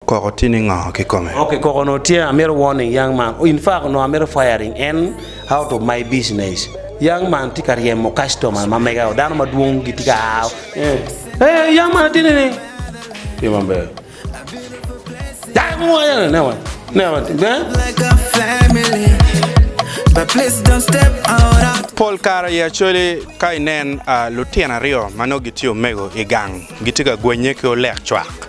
Koko tye ningo kikome? Okay koko onongo tye amito warning young man in fact onongo amito firing en out of my business young man tye ka ryemo customer ma mega o dano madwong gitye ka aa o eh young man atye nining tye maber dano mo aye ne wa ne wa eh. Pol kare i Acholi ka inen lutino aryo ma nongo gitye omego i gang gitye ka gwenye ki olek cwak.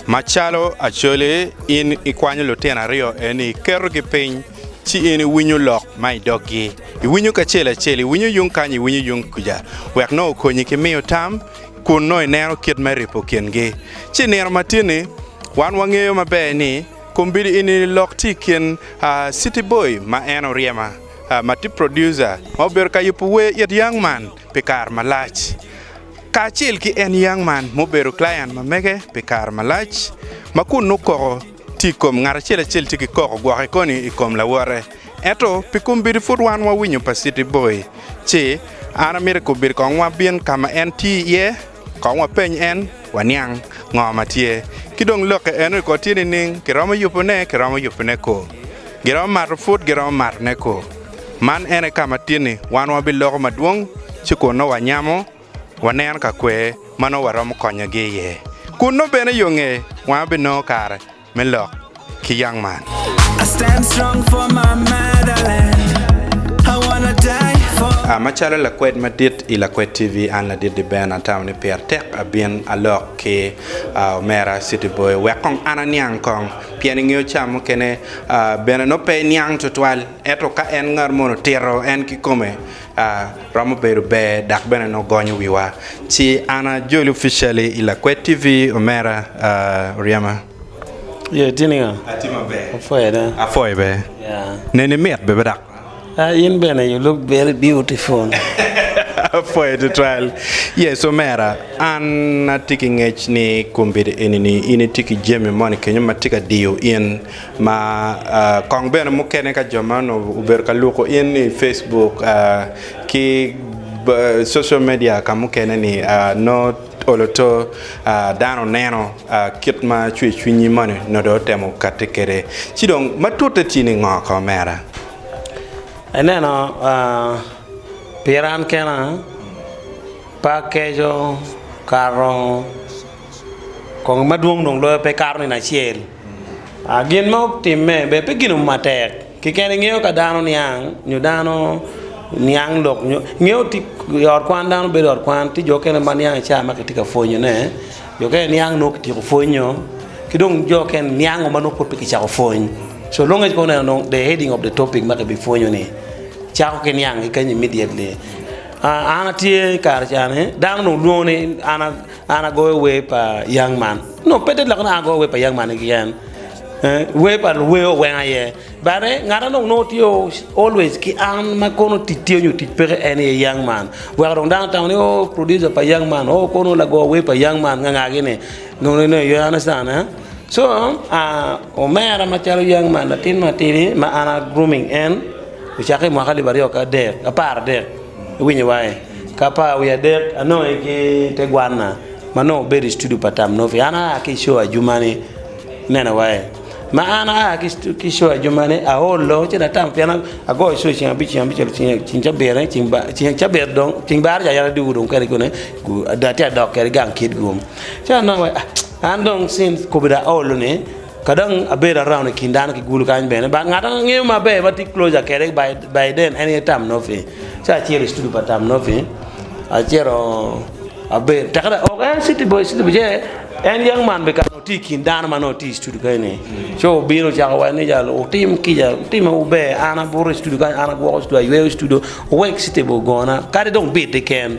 Macalo Acholi, in ikwanyo lutino aryo eni, iketogi piny, ci in iwinyo lok ma i doggi. Iwinyo kacel acel, iwinyo yung kany, iwinyo yung kuca, wek nongo okonyi ki miyo tam, kun nongo ineno kit me ripo kingi. Ci i nino matini, wan wangeyo maber ni kombeddi eni lok tye i kin City Boy ma en oryema, ma tye producer, ma obedo ka yubo wer it Young Man pi kare malac. kacel ki en Young Man ma obedo client ma mege pi kare malac, ma kun nongo koko tye i kom ngat acel acel tye ki koko gwoke koni i kom lawote. Ento pi kombeddi pud wan wawinyo pa City Boy ci an amito kombeddi kong wabin ka ma en tye iye kong wapeny en waniang ngo ma tye. Ki dong lokke eno ko tye nining, kiromo yubone, kiromo yubone ko? Giromo mato pud giromo matone ko? Man ene ka ma tyenni wan wabiloko madwong ci kun nongo wanyamo waneno ka kwe ma nongo waromo konyogi iye, kun nongo bene yo nge wanga binongo kare me lok ki yang man. Macalo lakwed madit i Lakwed TV, an Ladit Diben atamo ni pire tek abin alok ki omera City Boy wek kong an aniang kong pien ingeyo ca mukene bene nongo pe iniang tutwal. Ento ka en ngat mono tito, en kikome a romo bedo ber dok bene nongo gonyo wiwa. Ci an a Joel officially i Lakwet TV omera a ryema. Ye itye niga? Atye maber. Apwoye da. Apwoye be. Ya. Neni mit bebe dok. Ah, in bene you look very beautiful. Apwoye tutwal. Yes omera, an atye ki ngec ni kombeddi eni ni in itye ki jami moni kenyo ma tye ka diyo in. Ma kong bene mukene ka jo man obedo ka luko in i Facebook ki social media ka mukene ni nongo olo to dano oneno kit ma cwer cwinyi moni nongo dong otemo kati kwede ci dong ma tute tye ni ngo ka omera? Ineno pira an kena pe akeco kare ongo kong madwong dong loyo pe kato nino acel. Gin ma otimme bene pe gin mo matek keken ingeyo ka dano niang nyo dano niang lok nyo ingeyo i ot kwan dano bedo i ot kwan tye jo mukene ma niang i cawa ma kitye ka pwonyo ne jo mukene niang nongo kityeko pwonyo ki dong jo mukene niang ma nongo pud pe kicako pwony so long as ikobo neno the heading of the topic ma kibi pwonyo ni cako ki niang kikany immediately an atye i kare cani dano dong lwongo ni an An agoyo wer pa Young Man nongo pe tek lok ni an agoyo wer pa Young Man keken, wer pa luwer oweng aye but ngat ma nongo tye always ki an ma kono tic tye nyo tic peke en aye Young Man weko dong dano otamo ni oo producer pa Young Man oo kono lago wer pa Young Man nga nga gini nongo nongo you understand so omera macalo Young Man latin matidi ma an a grooming en ocake i mwaka alip aryo ki adek apar adek. Iwinyo wange. Ka pa wiye adek, anongo ki te gwanna ma nongo obedo i studio pa Tam Nofi. An aa ki i show ajumani, ineno wange. Ma an aa ki i show ajumani, aolo ci atamo pien agoyo show ceng abic, ceng abicel, ceng cabirane, ceng cabit dong, ceng baro ca yam adwogo dong kene kunu, atye ka dok kede gang Kitgum. Ci anongo ni an dong since kobeddi aolo-ni. Ka dong abedo araun i kin dano ki gulu kany bene, ba ngat ma angeyo maber ma tye closer kwede by then en aye Tam Noffee. Ci acito i studio pa Tam Noffee, acito abedo tekka dong ok en city boy city boy ce en young man bene kare tye i kin dano ma nongo tye i studio kene ni. Ci obino ocako wa ni jalo wutim kica, wutimme wu ber, an abuto i studio kany, an agwoko studio, ayweyo studio, owek city boy ogona kadi dong bit keken.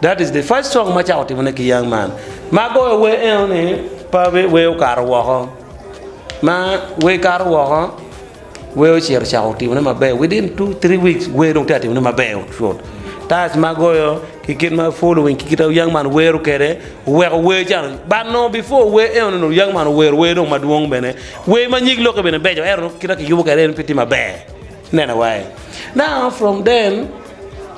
That is the first song ma cako timone ki young man ma agoyo wer eno ni pa wer okato woko ma wer kato woko wer ocito cako timone maber within two three weeks wer dong tye ka timone maber cut times ma agoyo ki kit ma following ki kit ma young man wero kwede oweko wer ca dong but nongo before wer eno ni dong young man owero wer dong madwong bene wer ma nyig lokke bene beco ento dong kit ma kiyubo kwede en pe tye maber. Neno wai. Now from then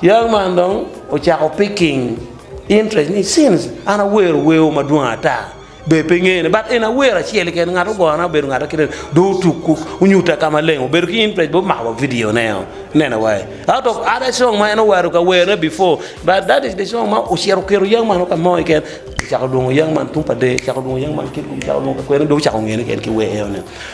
young man dong ocako picking interest ni since an awero wer o madwong ata ber pe ngene but in awero acel keken ngat ogona obedo ngat akita ni dong otuku onyuta ka maleng obedo ki interest bene omako wa video ne o ineno wai out of other song ma en owero ka wer ne before but that is the song ma ocito oketo young man o ka mo keken kicako lwongo young man tum pa de kicako lwongo young man kit kit kicako lwongo kakwen dong ocako ngene keken ki wer eno ni.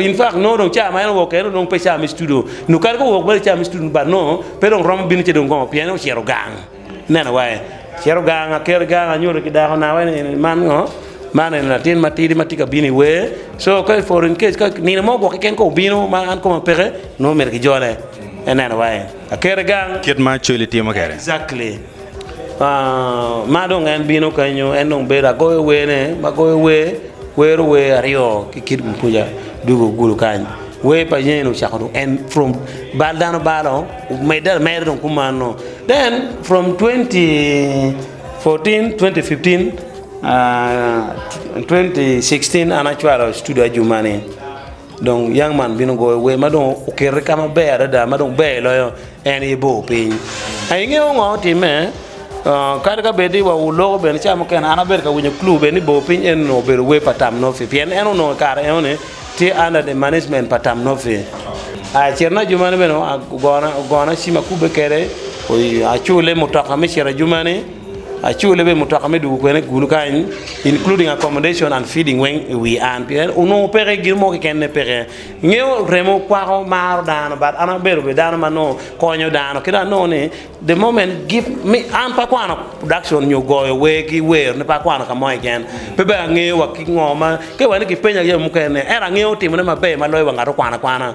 infact nongo dong cawa ma en owok kene pe cawa me citudu nyo kadi ka owok mere cawa me citudu but nongo pe dong romo bino ci dong gongo pien ocito gang ineno wa en cito gang aker gang anyuto ki dako nawa eni man ngo man eni latin matidi matye ka bino iwer so ka for in case ka nino mo gwok keken ka obino ma an koma peke nongo myero kijole ineno wa en aker gang exactly. ma dong en bino kenyo en dong bedo agoyo wer ne ma goyo wer kwero wer aryo ki kit wi kuca dwogo gudo kany wer pa yeyen ocako dong en from bal dano balo omedde ameda dong kumalo den from twenty fourteen twenty fifteen twenty sixteen an acwalo studio ajuma ni. Dong yang man bino goyo wer ma dong okete ka maber adada ma dong ber loyo en aye bor piny. A ingeyo ngo timme? Uh, kadi ka bed ni wa uloko bene ca mukene an abedo ka winyo clue bene ni bor piny en onongo obedo wer pa Tam Nofi pien en onongo i kare enoni tye under the management pa Tam Nofi. A citna ajumani bene ogona, ogona cim akubbe kede, oy- acule mutoka me cito ajumani. Acule bene mutoka me dwogo kwena i kulu kany including accommodation and feeding weng i wi an pien onongo peke gin mo keken ne peke. Ingeyo remo kwako maro dano but an abedo bene dano ma nongo konyo dano kidong anongo ni the moment give me an pe akwano production nyo goyo wer ki wer ne pe akwano kamo keken pe bene angeyo wa ki ngo ma ka iwene kipenya jami mukene ento angeyo timone maber maloyo wa ngat okwano akwana.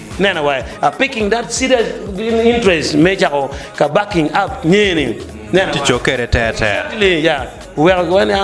Nena wa a picking that serious interest me cako ka backing up nyer ni. Nena wa. Tico kede ter ter. Exactly ya. Weko ki wena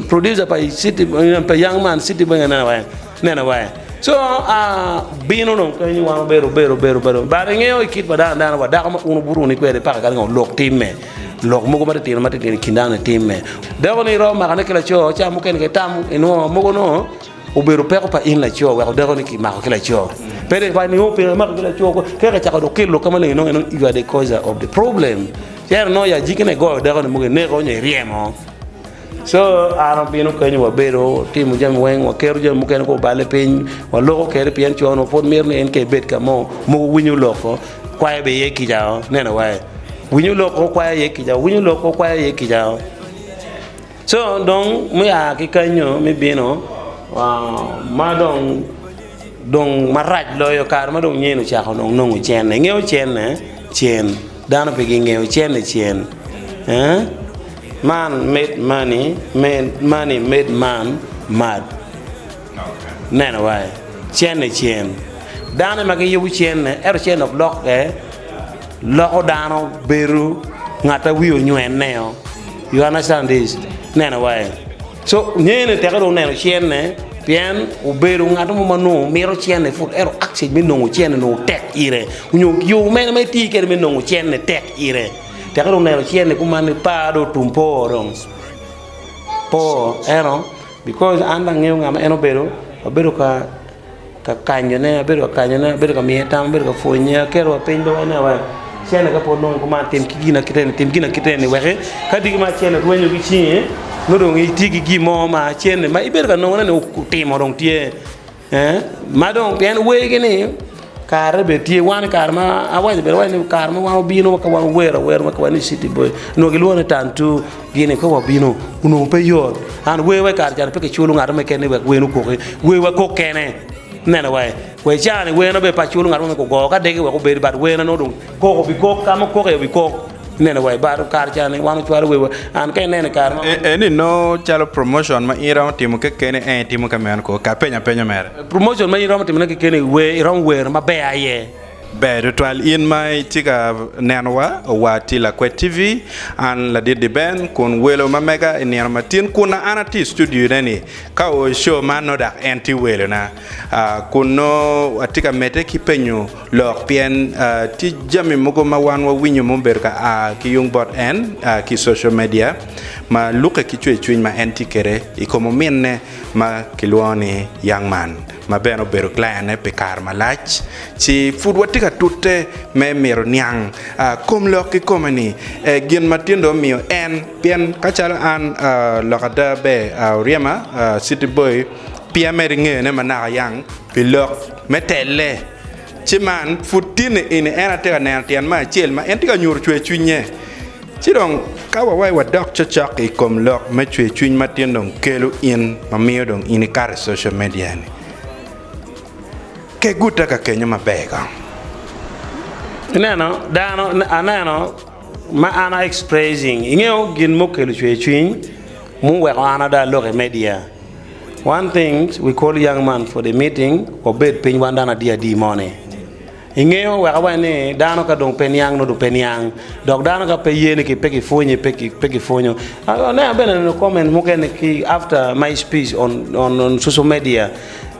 producer pa city pa young man city boy nena wa. Nena wa. So a bino dong kenyo wan obedo obedo obedo obedo but ingeyo ikit pa dano dano wa dako ma un obuto ni kwede paka kadi ngo lok tim me lok mogo ma titino ma titino ikin dano ni tim me dako ni romo makane ki laco ca mukene ke tam inwo mogo nongo Obedo peko pa in laco weko dako ni ki mako ki laco. Pe dek pa ni o peko mako ki laco ko. Kek e chako dok ki lok kama lengi nongo you are the causer of the problem. Cero nongo ya jiki ne goyo dako ni mugi neko nyo iryemo. So an obino kenyo wa bedo timo jami weng wa keto jami mukene ko obale piny wa loko kede pien co no pwod mito ni en ke bed kamo mugu winyo lok ko kwayo be iye kica o neno wa e. Winyo lok ko kwayo iye kica o winyo lok ko kwayo iye kica o. Co dong mua ki kenyo me bino ma dong dong marac loyo kare ma dong nyen ocako dong nongo cene ingeyo cene cen dano pe gingeyo cene cen eeh man made money made money made man mad. Neno wai, cene cen. Dano ma giyubo cene, ento cene dok lokke, loko dano bedo ngat ma wiye onywene-o. You understand this? Neno wai. So, ngene teke dong neno cene, pien obedo ngat mo ma nongo mito cene put, ento access me nongo cene nongo tek ire, nyo yo mene ma iti kede me nongo cene tek ire. Teke dong neno cene kuman-ni par dong otum po dong. Po, ento. Because an dong angeyo nga ma en obedo, abedo ka ka kanyo ne, abedo ka kanyo ne, abedo ka miye tam, abedo ka pwonye, aketo wa piny dong ane wa acele ka pwod nongo kuman tim ki gina kite ni, tim gina kite ni weki ka diki ma acele rwenyo ki cinge nongo dong itye ki gin mo ma acel ni ma ibedo ka nongo ne ni otimo dong tye. Ee, ma dong pien wegi ni kare bene tye wan kare ma awaco bene ni kare ma wan wabino ka wan wuwer awer ma kiwaco ni city boy onongo gilwongo ni tantu gini ka wabino onongo pe yot and wer wa kare cani pe kiculo ngat mo keken ni wek wer okoki wer wa kok kene ineno wa wa cani wer na bene pe aculo ngat mo me gugo ka degi wek obed but wer na nongo dong koko bikok ka ma kok aye obikok Neno wa i balo kare ca ni wan ocwalo wewa an ka ineno i kare ma. Eni nongo calo promotion ma in iromo timo kekeni en itimo ka meno koo? Ka penyo apenyo mere. Promotion ma in iromo timone kekeni wer iromo wer ma ber aye. Ber tutwal in ma itye ka neno wa owa tye Lakwet TV an Ladidi Ben kun welo ma mega i nino matin kun na an atye i studio ne ni ka oo i show man nongo dak en tye welo na. Kun nongo atye ka medde ki penyo lok pien tye jami mogo ma wan wawinyo ma obedo ka a ki yung bot en ki social media ma lukke ki cwercwiny ma en tye kwede i kom ominne ma kilwongo ni Young Man ma bene obedo client-ne pi kare malac ci pud watye ka tute me mito niang kom lok kikome ni gin ma tyen dong omiyo en pien ka calo an lok ada ber oryema city boy Pi amed ngeyone manaka yang pi lok me telle, ci man pud tin ni ini en atye ka neno tyen me acel ma en tye ka nyuto cwer cwinye. Ci dong ka wawayi wadok cocok i kom lok me cwer cwiny ma tin dong kelo in ma miyo dong in ikato i social media ni, kegute ka kenyo maber kong. Ineno dano aneno ma an a expressing, ingeyo gin mukelo cwer cwiny muweko an ada alok i media. One thing we call young man for the meeting wabed piny wan dano adi adi mo ni ingeyo wek awaci ni dano ka dong pe niang nongo dong pe niang dok dano ka pe ye ni ki pe ki pwonye pe ki pwonyo aneno bene aneno comment mukene ki after my speech on social media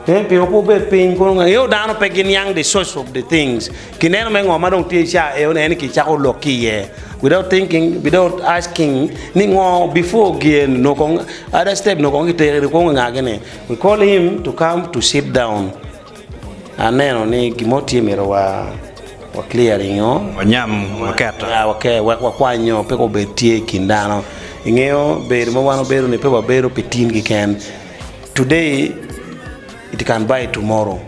pien pe wabed piny ingeyo dano pe gi niang the source of the things Kineno me ngo ma dong tye i caa eo ni en ni ki cako lok ki iye without thinking, without asking ni ngo before gen nongo kong other step nongo kong ki tero iri kong nga gi ni we call him to come to sit down aneno ni gin mo tye myero wa wa clear ringo Wanyam, waketo. ya wa ke wek wa kwany nyo pe ko bed tye i kin dano ingeyo bedo ma wan wabedo ni pe wabedo pi tin kiken today It you can buy it tomorrow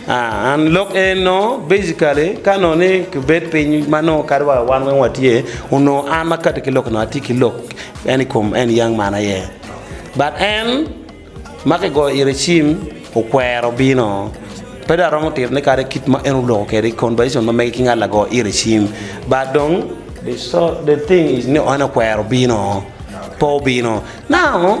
uh and lok en no basically ka nongo ni kibed piny ma nongo kadi wa wan weng watye onongo an ma kati ki lok nongo atye ki lok en i kom en young man aye but en ma kigoyo ite cim okwero bino pe dong aromo tito ne kadi kit ma en oloko kwede conversation ma mege ki ngat lago ite cim but dong the so the thing is ni en okwero bino pe obino now